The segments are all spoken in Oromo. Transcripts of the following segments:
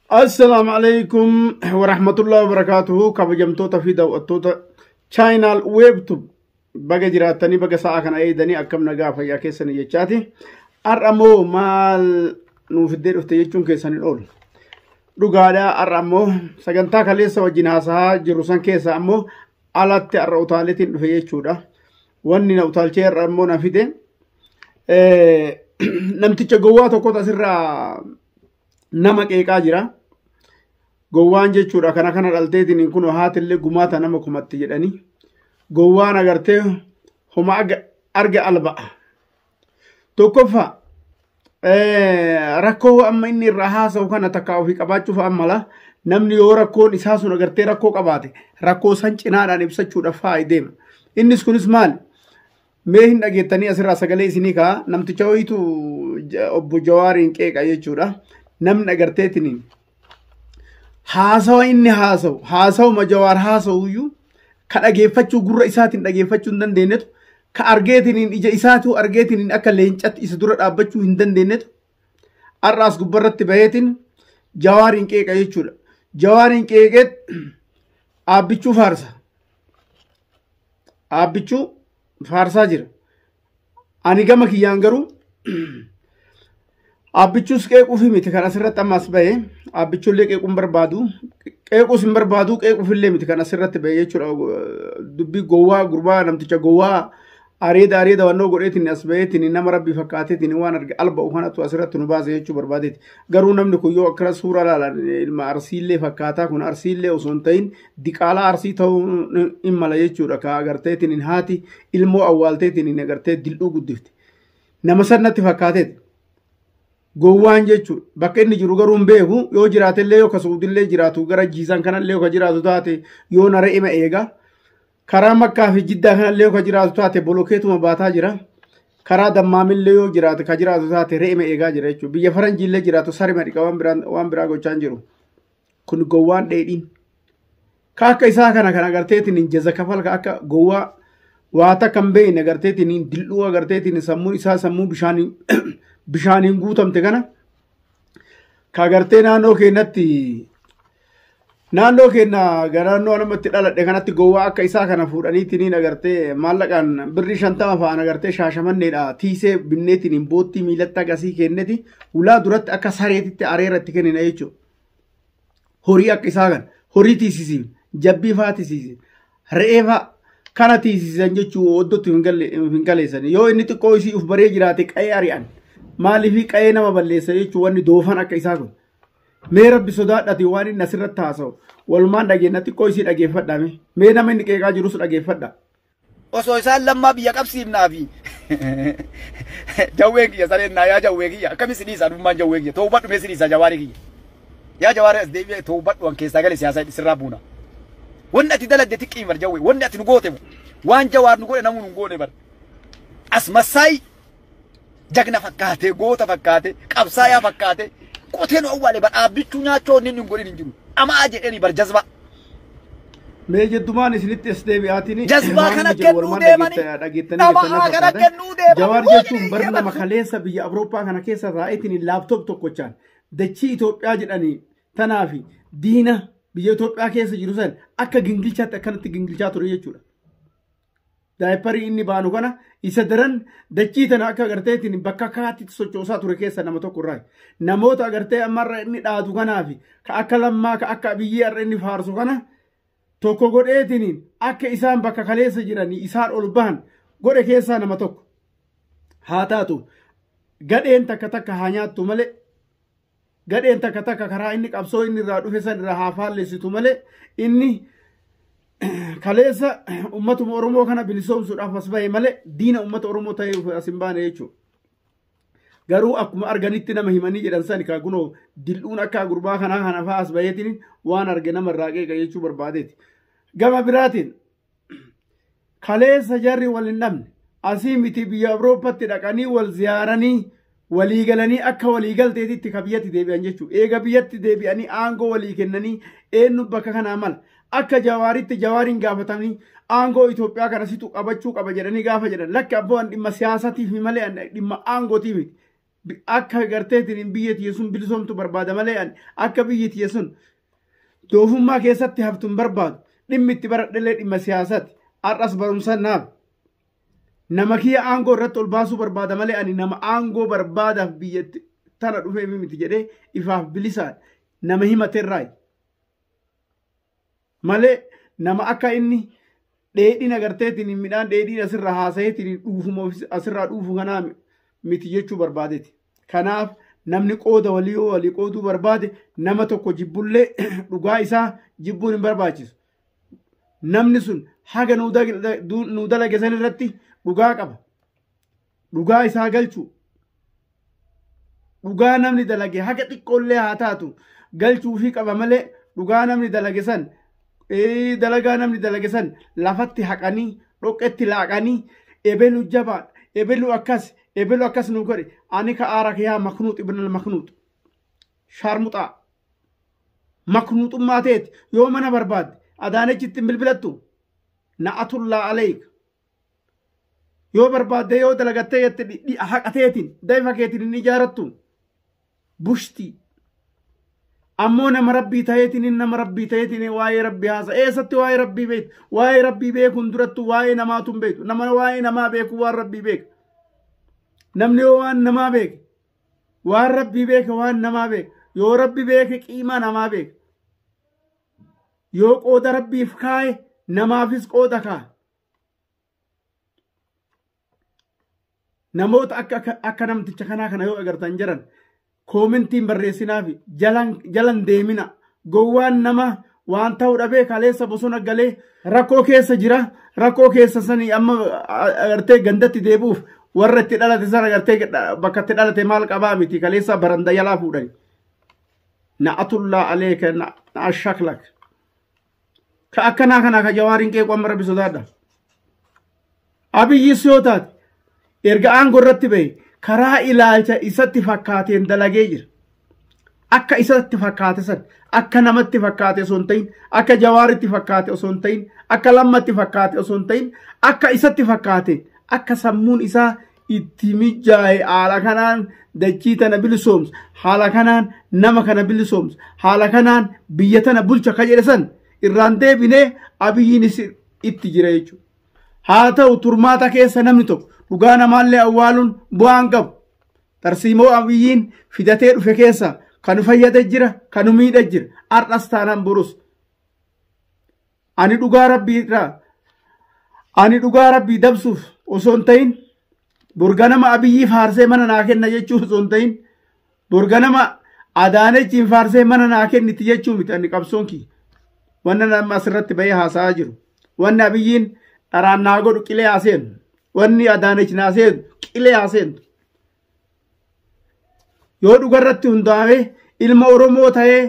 Assalaamu alaikum warahmatullahi wabarakatuhu kabajamtoota fi daawwattoota chaayinaal weebtub baga jiraattanii baga sa'a kana eegdanii akkam nagaa fayyaa keessanii jechaati har'a immoo maal nuuf iddee dhufte jechuun keessaniin oolu dhugaadhaa har'a immoo sagantaa kaleessa wajjin haasahaa jiru san keessa ammoo alatti har'a utaaleetiin dhufe jechuudha. Wanni na utaalchee har'a immoo na fide namticha gowwaa tokkotu asirraa nama qeeqaa jira. Gowwaan jechuudha kana kana dhalteetiin kun haatillee gumaata nama kumatti jedhanii gowwaan agartee homa arga alba'a. Tokkoffaa rakkoo amma inni irraa haasa'u kana takka ofii qabaachuuf ammala namni yoo rakkoon isaa sun agartee rakkoo qabaate rakkoo san cinaadhaan ibsachuudhaaf faayi deema. Innis kunis maali? Mee hin dhageettanii asirraa sagalee isinii kaa namticha wayiitu obbo Jawaariin qeeqa jechuudha. Namni agarteetiniin haasawa inni haasawu haasawuma jawaar haasawuyyuu ka dhageeffachuu gurra isaatiin dhageeffachuu hin dandeenyetu ka argeetiniin ija isaatuu argeetiniin akka leencatti isa dura dhaabbachuu hin dandeenyetu har'aas gubbarratti baheetiin jawaariin qeeqa jechuudha. Jawaariin qeeqeet aabbichuu faarsa. Aabbichuu faarsaa jira. Ani gama kiyyaan garuu abbichuus qeequufi miti kan asirratti amma as ba'e abbichullee qeequun barbaadu qeequus hin barbaadu qeequufillee miti kan asirratti ba'e jechuudha dubbii gowwaa gurbaa namticha gowwaa areeda areeda wannoo godheetiin as ba'eetiin nama rabbii fakkaateetiin waan arge alba'u kanatu asirratti nu baase jechuu barbaadeeti garuu namni kun yoo akkana suuraa laalan ilma arsiillee fakkaataa kun arsiillee osoo hin ta'in diqaalaa arsii ta'uu hin mala jechuudha ka agarteetiin hin haati ilmoo awwaalteetiin hin agartee dil'uu guddifte nama san natti fakkaateeti gowwaan jechuudha bakka inni jiru garuu hin beeku yoo jiraatellee yoo kasuudillee jiraatu gara jiisaan kanallee yoo ka jiraatu taate yoo nara ima eega karaa makkaa fi jiddaa kanallee yoo ka jiraatu taate bolokeetuma baataa jira karaa dammaamillee yoo jiraate ka jiraatu taate re'ima eegaa jira jechuudha biyya faranjiillee jiraatu sarima dhiqa waan biraan- waan biraa gochaa hin jiru. kun gowwaan dheedhiin ka akka isaa kana kan agarteetiin jaza kafal ka akka gowwaa waa takka hin beekne agarteetiin dil'uu agarteetiin sammuu isaa sammuu bishaaniin bishaaniin guutamte kana ka agartee naannoo keenyatti naannoo keenya garaannoo namatti dhaladhe kanatti gowwaa akka isaa kana fuudhaniitiin agartee maallaqaan birrii shantama fa'aan agartee shaashamanneedha tiisee binneetiin boottii miilatti agasii kenneti ulaa duratti akka sareetitti areera itti kennina jechuudha. horii akka isaa kan horii tiisisin jabbii faa tiisisin re'ee faa kana tiisisan jechuu oddootti hin galeessan yoo inni xiqqoo isii uf baree jiraate qa'ee ari'an maaliifii qa'ee nama balleessa jechuu wanni doofan akka isaa kun mee rabbi sodaadhati waan inni asirratti haasa'u walumaan dhageenna xiqqoo isii dhageeffadha mee nama inni qeeqaa jirus dhageeffadha. Osoo isaan lammaa biyya qabsiifnaa fi jawween kiyya sareen naa yaa jawwee kiyya akkamiin si dhiisa adummaan jawwee kiyya ta'uu badhu mee si dhiisa jawaarii kiyya yaa jawaarii as deebi'ee ta'uu badhu an keessaa galee siyaasaa sirraa buuna wanni ati dalagde xiqqii bar jawwee wanni ati nu goote waan jawaar nu godhe namuu nu hin goone bar as massaayii jagna fakkaatee goota fakkaatee qabsaayaa fakkaatee qotee nu awwaale badhaabbichuu nyaachoo inni hin godhin hin jiru amaa jedheni bar jazbaa Mee jeddumaan isinitti as deebi'aatini. Jazbaa Waan kana inni jedhu kennuu walumaan deemani. dhageetta- dhageettanii Nama keessan haa kana fakkaata. kennuu deemani. Jawaar Waan jechuun inni bara nama eeyyamatu. kaleessa biyya Awurooppaa kana keessa taa'eetiin laaptoop tokkochaan dachii Itoophiyaa jedhanii tanaa fi diina biyya Itoophiyaa keessa jiru san akka gingilchaatti akkanatti gingilchaa ture jechuudha. daayiparii inni baanu kana isa daran dachii tana akka agarteetiin bakka kaatitti sochoosaa ture keessa nama tokko irraa namoota agartee ammarra inni dhaatu kanaafi ka akka lammaa ka akka abiyyii har'a inni faarsu kana tokko godheetiin akka isaan bakka kaleessa jiranii isaan ol bahan godhe keessaa nama tokko haa taatu gadheen takka takka haa nyaattu malee Gadheen takka takka karaa inni qabsoo inni irraa dhufe san irraa haa faallessitu malee inni kaleessa ummatuma Oromoo kana bilisoomsuudhaaf as bahe malee diina ummata Oromoo ta'eef as hin baane jechuudha. Garuu akkuma arganitti nama himanii jedhan sani kaa kunoo dil'uun akka gurbaa kanaa kana fa'aa as baheetiin waan arge nama irraa qeeqa jechuu barbaadeeti. Gama biraatiin kaleessa jarri wal hin dhabne asii miti biyya Awurooppatti dhaqanii wal ziyaaranii walii galanii akka walii galteetitti ka biyyatti deebi'an jechuudha. Eega biyyatti deebi'anii aangoo walii kennanii eenyu bakka kanaa mala. Akka jawaaritti jawaariin gaafatanii aangoo Itoophiyaa kana situ qabachuu qaba jedhanii gaafa jedhan lakki abboo an dhimma siyaasatiif malee an dhimma aangootiif miti. Akka garteetiin biyya tiyya sun bilisoomtu barbaada malee ani akka biyyi tiyya sun doofummaa keessatti haftu hin barbaadu. Dhimmi itti baradhellee dhimma siyaasaati. Har'as barumsa naaf. Nama kiyya aangoo irratti ol baasuu barbaada malee ani nama aangoo barbaadaaf biyyatti tana dhufee miti jedhee ifaaf bilisaan nama himaterraayi. malee nama akka inni dheedhiin agarteetiin midhaan dheedhiin asirraa haasaheetiin dhuufuma asirraa dhuufu kanaa miti jechuu barbaadeeti. Kanaaf namni qooda walii yoo walii qooduu barbaade nama tokko jibbullee dhugaa isaa jibbuun hin barbaachisu. Namni sun haga nu dalage san irratti dhugaa qaba. dhugaa isaa galchu dhugaa namni dalage haga xiqqoollee haa taatu galchuufii qaba malee dhugaa namni dalage san ee, dalagaa namni dalage san lafatti haqanii dhoqqetti laaqanii ebelu jabaa ebelu akkas ebelu akkas nu godhe ani ka aara kiyaa maknuut ibnal maknuut shaarmuxaa maknuuxummaa teeti yoo mana barbaadde adaanechitti hin bilbilattu na'atullaa aleeyka yoo barbaadde yoo dalagattee jette dhi- dhi- haqa teetiin daifa keetiin hin ijaarattu bushtii ammoo nama rabbii ta'eetiin inni nama rabbii ta'eetiin waa'ee rabbii haasa eessatti waa'ee rabbii beektu waa'ee rabbii beekuun durattu waa'ee namaatu hin beektu nama waa'ee namaa beeku waan rabbii beeka namni yoo waan namaa beeke waan rabbii beeke waan namaa beeka yoo rabbi beeke qiimaa namaa beeka yoo qooda rabbiif kaaye namaafis qooda kaa'a namoota akka akka- akka namticha kanaa kana yoo agartan jiran koomintiin barreessinaa fi jalan jalan deemina gowwaan nama waan ta'uu dhabee kaleessa bosona galee rakkoo keessa jira rakkoo keessa sanii amma a- agartee gandatti deebi'uuf warra itti dhalate sana agartee dha- bakka itti dhalate maal qabaa miti kaleessa baranda jalaa fuudhani na'atullaa aleeka na- na ashaklak Ka akkanaa kanaa ka jawaariin qeequ amma rabbi sodaadha. Abiyyis yoo taate erga aangoo irratti ba'e karaa ilaalcha isatti fakkaateen dalagee jira. Akka isatti fakkaate san akka namatti fakkaate osoo hin ta'in akka jawaaritti fakkaate osoo hin ta'in akka lammatti fakkaate osoo hin ta'in akka isatti fakkaate akka sammuun isaa itti mijaa'e haala kanaan dachii tana bilisoomsa haala kanaan nama kana bilisoomsa haala kanaan biyya tana bulcha ka jedhe san irraan deebinee abiyyiinis itti jira jechuudha. Haa ta'u turmaata keessa namni tokko dhugaa namaallee awwaaluun bu'aan qabu. Tarsiimoo abiyyiin fidatee dhufe keessa kan fayyada jira kan miidha jira har'as taanaan borus. Ani dhugaa rabbii irraa ani dhugaa rabbii dabsuuf osoo hin ta'in borganama abiyyii faarsee mana naa kenna jechuuf osoo hin ta'in borganama adaanechiin faarsee mana naa kenniti jechuu miti ani qabsoon kiyya. Wanna nama asirratti bahee haasa'aa jiru. Wanni abiyyiin dharaan naa godhu qilee haa seenu. Wanni adaanech naa seenu qilee haa seentu. yoo dhugarratti hundaa'e ilma Oromoo ta'ee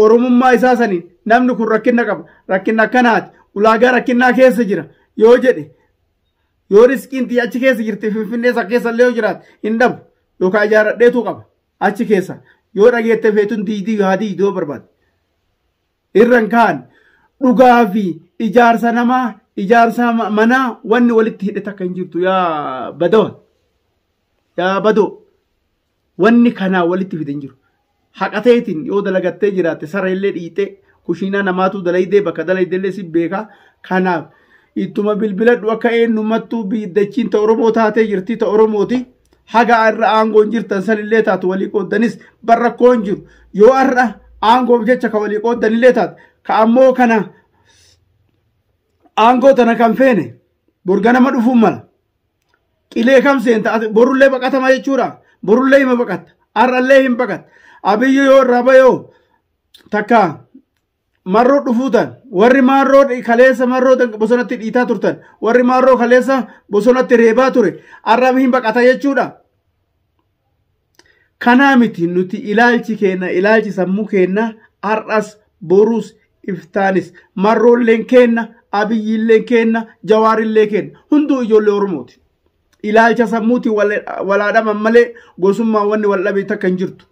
Oromummaa isaa saniin namni kun rakkina qaba rakkina akkanaati ulaagaa rakkinaa keessa jira yoo jedhe yoo riskiin tiyya achi keessa jirti finfinnee isa keessa illee yoo jiraate hin dhabu yookaan ijaaradheetu qaba achi keessa yoo dhageette feetuun diidii haa diidoo barbaade. Irran kaan dhugaa fi ijaarsa namaa ijaarsa ma- manaa wanni walitti hidhe takka hin jirtu yaa badawa yaa badoo wanni kanaa walitti fide hin jiru. Haqa teetiin yoo dalagattee jiraatte sara illee dhiitee kushiinaa namaatu dalaydee bakka dalaydee illee si beekaa kanaaf ittuma bilbiladhu akka eenyummattuu biiddachiin ta Oromoo taatee jirti ta Oromooti haga irra aangoon jirtan sanillee taatu walii qooddanis bar rakkoon jiru yoo har'a aangoof jecha ka walii qooddanillee taatu ka ammoo kana aangoo tana kan feene borga nama dhufuun mala qilee kam seenta ati borullee baqatama jechuudha borullee hima baqatta har'allee hin baqatta abiyyi yoo irraa bayoo takka marroo dhufuutan warri maarroo kaleessa marroo bosonatti dhiitaa turtan warri maarroo kaleessa bosonatti reebaa ture arraam hin baqata jechuudha. Kanaa miti nuti ilaalchi keenna ilaalchi sammuu keenna har'as borus iftaanis marroolleen keenna abiyyiilleen keenna jawaarillee keenna hunduu ijoollee oromooti. ilaalcha sammuutiin walaadhaman malee gosummaan wanni wal dhabe takka hin jirtu.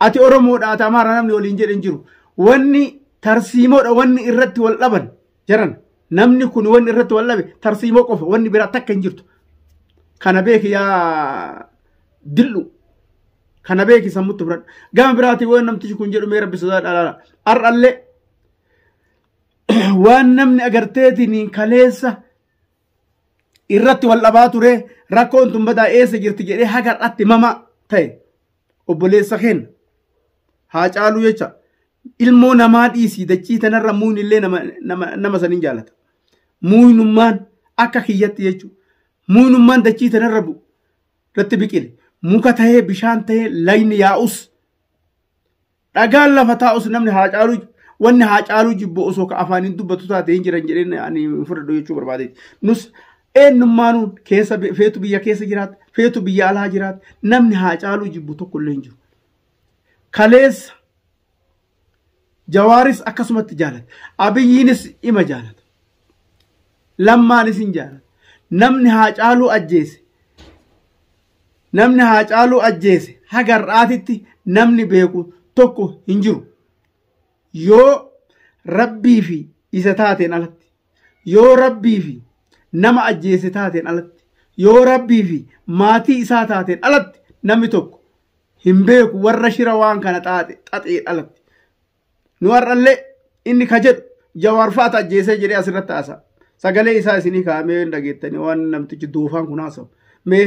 Ati Oromoodha ati Amaara namni waliin jedhe hin jiru. Wanni tarsiimoodha wanni irratti wal dhaban jiran namni kun wanni irratti wal dhabe tarsiimoo qofa wanni biraa takka hin jirtu. Kana beeki yaa dil'u. Kana beeki sammutti biradhu. Gama biraatiin waan namtichi kun jedhu mee rabbi sodaa dhalaala. Har'allee waan namni agarteetiin kaleessa irratti wal dhabaa ture rakkoon tun badaa eessa jirti jedhee haga har'atti mama ta'e obboleessa keenya haa caaluu jecha ilmoo namaa dhiisii dachii tanarra muuyni illee nama, nama, nama saniin jaalata muuynummaan akka kiyyatti jechuudha muuynummaan dachii tanarra bu irratti biqile muka tahee bishaan tahee lagni yaa'us Dhagaan lafa taa'us namni haa caaluu wanni haa caaluu jibbu osoo ka afaaniin dubbatu taate hin jiran jedheen ani hin fudhadhu jechuu barbaadeeti. Nus eenyummaanuu keessa bi- feetu biyya keessa jiraata feetu biyya alaa jiraata namni haa caaluu jibbu tokko illee hin jiru. Kaleessa jawaaris akkasumatti jaalata. Abiyyiinis ima jaalata. Lammaanis hin jaalata. Namni haa caaluu ajjeese Namni Haacaaluu ajjeese haga har'aatitti namni beeku tokko hin jiru. Yoo rabbii fi isa taateen alatti, yoo rabbii fi nama ajjeese taateen alatti, yoo rabbii fi maatii isaa taateen alatti namni tokko hin beeku warra shira waan kana xaxeen alatti. Nu har'allee inni ka jedhu Jawaar fa'aatu ajjeesee jedhee asirratti haasa'a. Sagalee isaa isinii kaa'amee hin dhageettanii waan namtichi doofaan kun haasa'u. Mee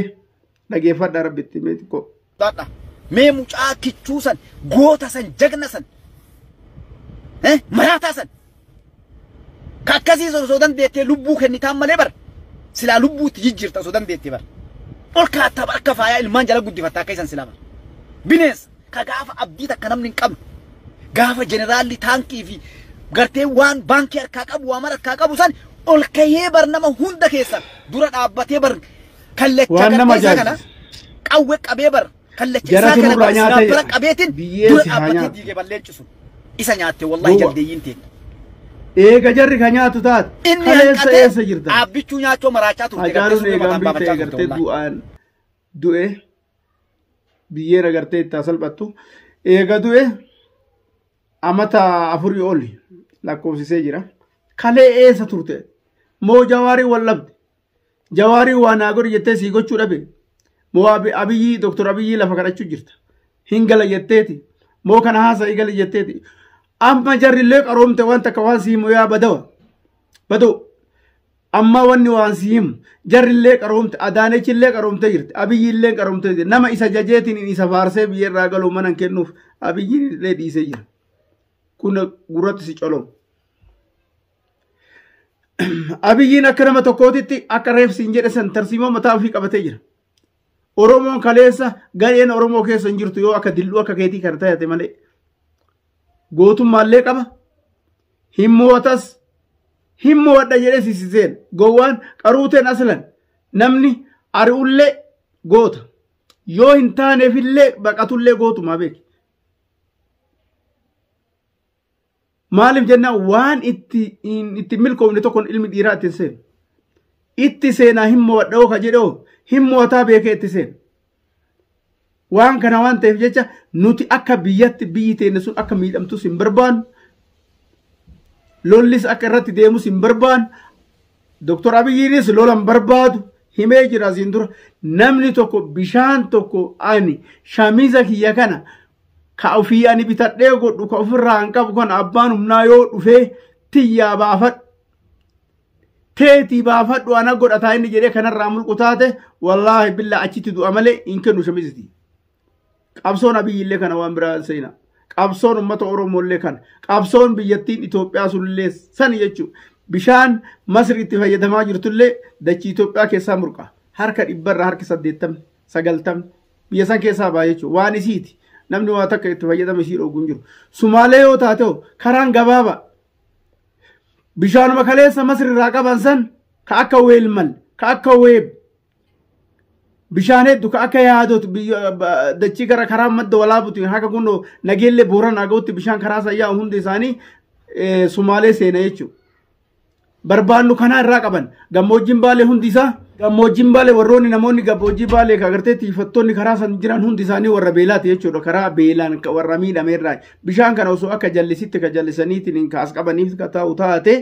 dhageeffadhaa rabbitti mee xiqqoo. Dhadha. Mee mucaa kichuu san, goota san, jagna san, eh, maraataa san. Ka akkasii san osoo dandeettee lubbuu kennitaan malee bar silaa lubbuu itti jijjiirta osoo dandeettee bar. Ol kaattaa bar akka faayaa ilmaan jala guddifatta akka isan silaa bar. Bineensa ka gaafa abdii takka namni hin qabne gaafa jeneraalli taankii fi gartee waan baankii harkaa qabu waa mara harkaa qabu san ol kahee bar nama hunda keessan dura dhaabbatee bar kallacha Waan nama gartee isaa kana ajaa'ibsiisa. qawwe qabee bar kallacha Jara isaa kana tunurraa bara nyaatee sinaapara jedha. qabeetiin Biyyee dura si haa dhaabbatee nyaatu. diige balleechu sun isa nyaatte wallahi Gowwa. jaldeeyyiin teenya. Eega jarri ka nyaatu taate. Inni Kaleessa eessa hanqatee jirta? dhaabbichuu nyaachoo maraachaa turte Hacaaluun garteessuu eegaan mataan biittee baafachaa turte agartee wallahi. du'aan du'e biyyeen agartee itti haa salphattu. Eega du'e amata afurii ol lakkoofsisee jira. Kalee eessa turte? Moo jawaarii wal dhabde? Jawaariin waa naa godhi jettee sii gochuu dhabe. Moo Abiyyii Dooktor Abiyyii lafa kadhachuu jirta. Hin gala jetteeti. Moo kana haasa'ii gali jetteeti. Amma jarrillee qaroomte waan takka waan sii himu yaa badawa. Badoo. Amma wanni waan sii himu. Jarrillee qaroomte Adaanechillee qaroomte jirti. Abiyyiillee qaroomte jirti. Nama isa jajeetiin isa faarsee biyyarraa galuu mana hin kennuuf Abiyyiillee dhiisee jira. Kun gurratti si colomu. Abiyyiin akka nama tokkootitti akka reefsi hin jedhe san tarsiimoo mataa ofii qabatee jira. Oromoon kaleessa gareen Oromoo keessa hin jirtu yoo akka dilluu akka keetii kana taate malee. Gootummaallee qaba. Hin mootas. Hin moodha jedhee sisiseen. Gowwaan qaruuteen aslan namni ari'ullee goota. Yoo hin taaneefillee baqatullee gootumaa beeki. Maaliif jennaan waan itti itti milkoofne tokkoon ilmi dhiiraa itti seenu. Itti seenaa hin mo'adhoo ka jedhoo hin mo'ataa beekee itti seenu. Waan kana waan ta'eef jecha nuti akka biyyatti biyyi teenne sun akka miidhamtus hin barbaannu. Lollis akka irratti deemus hin barbaannu. Doktor Abiyyiinis lola hin barbaadu. Himee jira asiin dura. Namni tokko bishaan tokko ani shamiza kiyya kana ka ofii ani bitadhee godhu ka ofirraa hin qabu kana abbaan humnaa yoo dhufee tiyyaa baafadhu teetii baafadhu ana godhataa inni jedhee kanarraa mulqu taate wallaahi billaa achitti du'a malee hin kennu shamiziti qabsoon abiyyillee kana waan biraa seena qabsoon ummata oromoollee kana qabsoon biyyattiin itoophiyaa sunillee san jechuun bishaan masri itti fayyadamaa jirtullee dachii itoophiyaa keessaa murqa harka dhibbarra harki saddeettamni sagaltamni biyya san keessaa ba'a jechuudha. Waan isiiti. Namni waa takka itti fayyadama isii dhoogu hin jiru. Sumaalee yoo taate hoo karaan gabaabaa. Bishaanuma kaleessa Masri irraa qaban san ka akka weelmal, ka akka weeb. Bishaan hedduu ka akka yaadotu biyya- ba- dachii gara karaa madda walaabuti haga kun nageellee booran haga'utti bishaan karaa sayyaa hundi isaanii eh, sumaalee seena jechuudha. barbaannu kanaa irraa qaban gammoojjiin baalee hundi isaa gammoojjiin baalee warroonni namoonni gammoojjii baalee ka agartee tiifattoonni karaa san jiran hundi isaanii warra beelaati jechuudha karaa beelaan ka warra miidhame irraa bishaan kana osoo akka jallisitti ka jallisaniitiin hin kaas qabaniif ka ta'u taate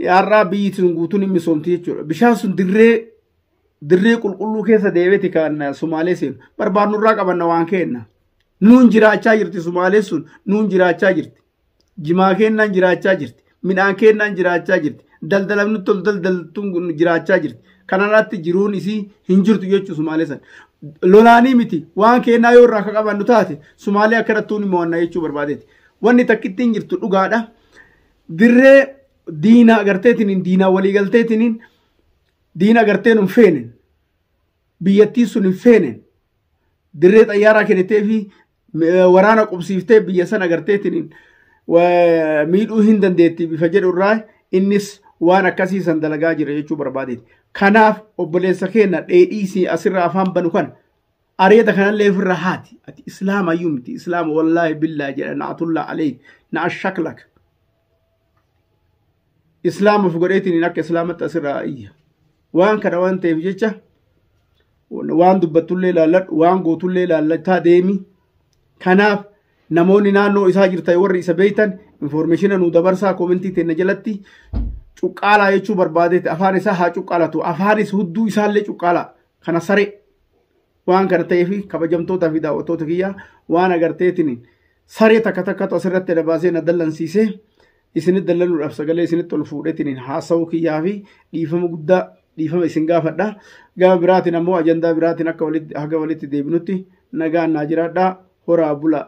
har'aa biyyi sun guutuun hin misoomti jechuudha bishaan sun dirree dirree qulqulluu keessa deebiiti kan sumaalee seenu barbaannu irraa qabanna waan keenna nuun jiraachaa jirti sumaalee sun nuun jiraachaa jirti jimaa keennaan jiraachaa jirti. Midhaan keennaan jiraachaa jirti. Daldalan nutti ol daldaltuun kun jiraachaa jirti. Kanarratti jiruun isii hin jirtu jechuu Sumaalee san. Lolaanii miti waan keennaa yoo irraa akka qabannu taate Sumaalee akka irratti ni mo'anna jechuu barbaadeeti. Wanni takkittiin jirtu dhugaadha. Dirree diina agarteetiniin diinaa walii galteetiniin diina agarteen hin feenen biyyattii sun hin feenen dirree xayyaaraa kennitee fi waraana qubsiiftee biyya san agarteetiin miidhuu hin dandeetti bifa jedhu irraa innis waan akkasii san dalagaa jira jechuu barbaadeeti. Kanaaf obboleessa keenya dheedhiisii asirraa afaan banu kana areeda kanallee ofirraa haati. Ati islaama iyyuu miti islaama wallaahi billaa jedha na'atullaa alee na'a shaklaka. islaamaf godheetiin akka islaamatti asirraa iyya waan kana waan ta'eef jecha waan dubbattullee ilaalladhu waan gootullee ilaallataa deemi kanaaf namoonni naannoo isaa jirtan warri isa beektan infoormeeshina nu dabarsaa koomentii teenna jalatti cuqqaalaa jechuu barbaadeeti afaan isaa haa cuqqaalatu afaanis hudduu isaallee cuqqaalaa kana saree waan kana ta'eef kabajamtootaa fi daawwattoota kiyyaa waan agarteetiin saree takka takkatu asirratti na baasee na dallansiisee isinitti dallanuudhaaf sagalee isinitti ol fuudheetiin haasa'uu kiyyaa fi dhiifama guddaa dhiifama isin gaafadha. Gama biraatiin ammoo ajandaa biraatiin akka walitti haga walitti deebinutti nagaan naa jiraadhaa horaa bulaa.